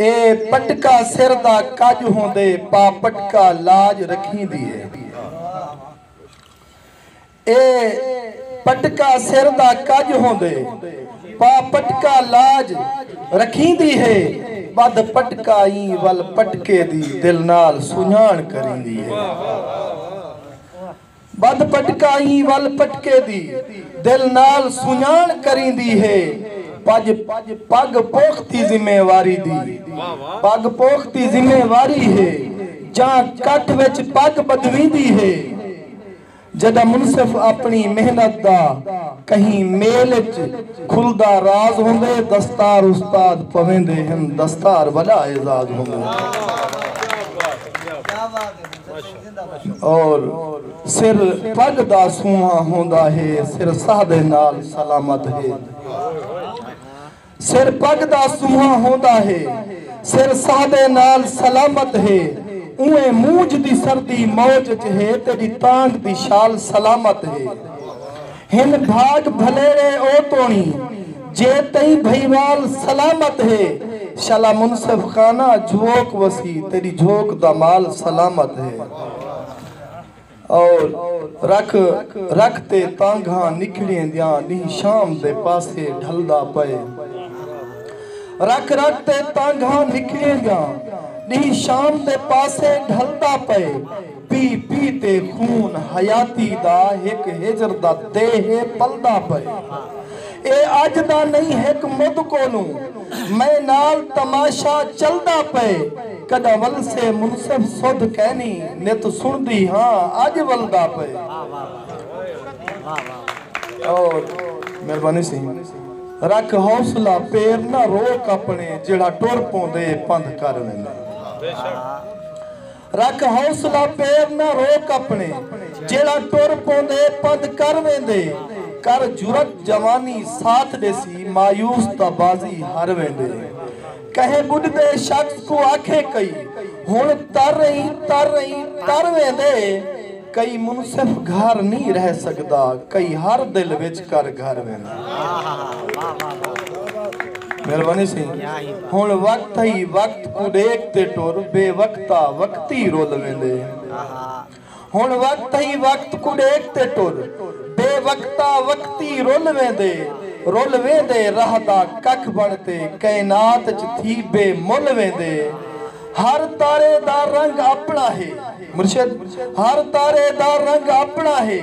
اے پٹکا سر دا کڄ ہوندے پا پٹکا لاج رکھیندی ہے۔ اے پٹکا سر دا کڄ ہوندے پا پٹکا لاج رکھیندی ہے ٻدھ پٹکا ایں ول پٹکے دی دل نال سنڄاݨ کریندی ہے۔ بدھ پٹکائی ول پٹکے دی دل نال سنڄاݨ کریندی ہے پڄ پڳ پوختی ذمہ واری دی پڳ پوختی ذمہ واری ہے جاں کٹ وچ پڳ ٻدھویندی ہے جݙاں منصف اپݨی محنت دا کہیں میل اچ کھلدا راز ہوندے دستار استاد پویندے ہن دستار وݙا اعزاز ہوندے۔ اور سر پڳ دا سونہاں ہوندا ہے سر ساہ دے نال سلامت ہے سر پڳ دا سونہاں ہوندا ہے سر ساہ دے نال سلامت ہے اونویں مونجھ دی سردی موج اچ ہے تیݙی تانگھ دی شال سلامت ہے ہن بھاگ بھلیرے او توڑی جے تئیں بھئیوال سلامت ہے شالا منصف خانہ جھوک وسی تیڈی جھوک دا مال سلامت ہے او رکھ رکھ تے تانگھاں نکھڑیں دیاں ڈینہہ شام دے پاسے ڈھلدا پئے رکھ رکھ تے تانگھاں نکھڑیں دیاں ڈینہہ شام دے پاسے ڈھلدا پئے۔ پی پی تے خون حیاتی دا ہک ہجر دا دیہہ پلدا پئے اے اج دا نئیں ہک مد کولوں میں نال تماشا چلدا پئے کڈاں ولسے منصف سدھ کینی نت سنڑدی ہاں اج ولدا پئے اور مہربانی سی رکھ حوصلہ پیر نہ روک اپنے جیڑھا ٹر پوندے پندھ کر ویندے۔ رکھ حوصلہ پیر نہ روک اپݨے جیڑھا ٹر پوندے پندھ کر ویندے کر جرات جوانی ساتھ ݙیسی مایوس تاں بازی ہر ویندے کہیں ٻݙدے شخص کوں آکھے کئی ہݨ تر رہیں تر رہیں تر ویندے کئی منصف گھر نی رہ سگدا کئی ہر دل وچ کر گھر ویندا۔ مہربانی سی ہن وقت ہئی وقت کوں ڈیکھ تے ٹر بے وقتا وقتی رل ویندے ہن وقت ہئی وقت کوں ڈیکھ تے ٹر بے وقتا وقتی رل ویندے رل ویندے راہ دا ککھ بن تے کائنات اچ تھی بے مل ویندے ہر تارے دا رنگ اپݨا ہے مرشد ہر تارے دا رنگ اپݨا ہے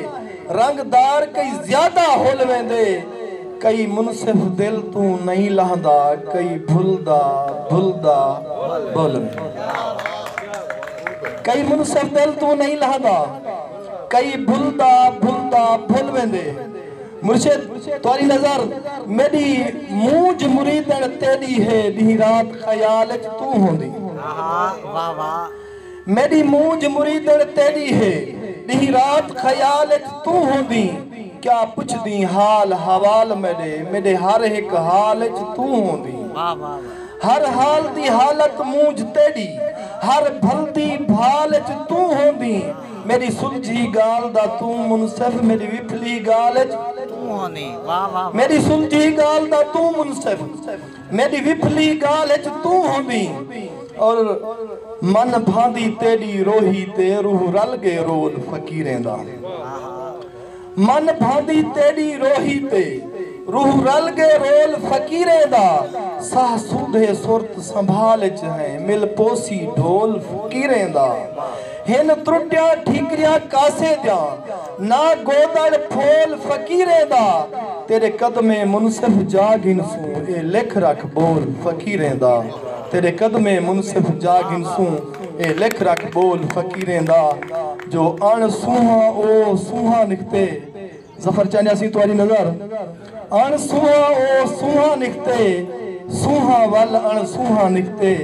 رنگ دار کئی زیادہ ہل ویندے کئی منصف دل توں نئیں لہندا کئی بھلدا بھلدا بھل کئی منصف دل توں نئیں لہندا کئی بھلدا بھلدا بھل ویندے مرشد تہاݙی نظر میݙی مونجھ مریدݨ تیݙی ہے ݙینہہ رات خیال اچ توں ہوندی میݙی مونجھ مریدݨ تیݙی ہے ݙینہہ رات خیال اچ توں ہوندی کیا پچھدیں حال احوال میݙے میݙے ہر ہک حال اچ توں ہوندی ہر حال دی حالت مونجھ تیݙی ہر بھلدی بھال اچ توں ہوندی۔ میݙی سلجھی ڳالھ دا توں منصف میݙی وپھلی ڳالھ اچ توں ہوندیں واہ واہ واہ میݙی سلجھی ڳالھ دا توں منصف میݙی وپھلی ڳالھ اچ توں ہوندیں اور من بھاندی تیݙی روہی تے روح رل ڳئے رول فقیریں دا آہا من بھاندی تیݙی روہی تے۔ روح رل ڳے رول فقیریں دا۔ ساہ سودھے سرت سنبھال اچ ہیں۔ مل پوسی ڈھول فقیریں دا۔ ہن ترٹیاں ٹھیکریاں کاسے دیاں۔ نہ گودڑ پھول فقیریں دا۔ تیݙے قدمیں منصف جا گھنسوں۔ اے لکھ رکھ ٻول فقیریں دا۔ تیݙے قدمیں منصف جا گھنسوں۔ اے لکھ رکھ ٻول فقیریں دا۔ جو اݨ سونہاں او سونہاں نکھتے ظفر چاہندے اسیں تہاݙی نظر اݨ سونہاں او سونہاں نکھتے سونہاں ول اݨ سونہاں نکھتے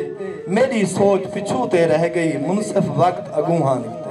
میݙی سوچ پچھوں تے رہ ڳئی منصف وقت اڳونہاں نکھتے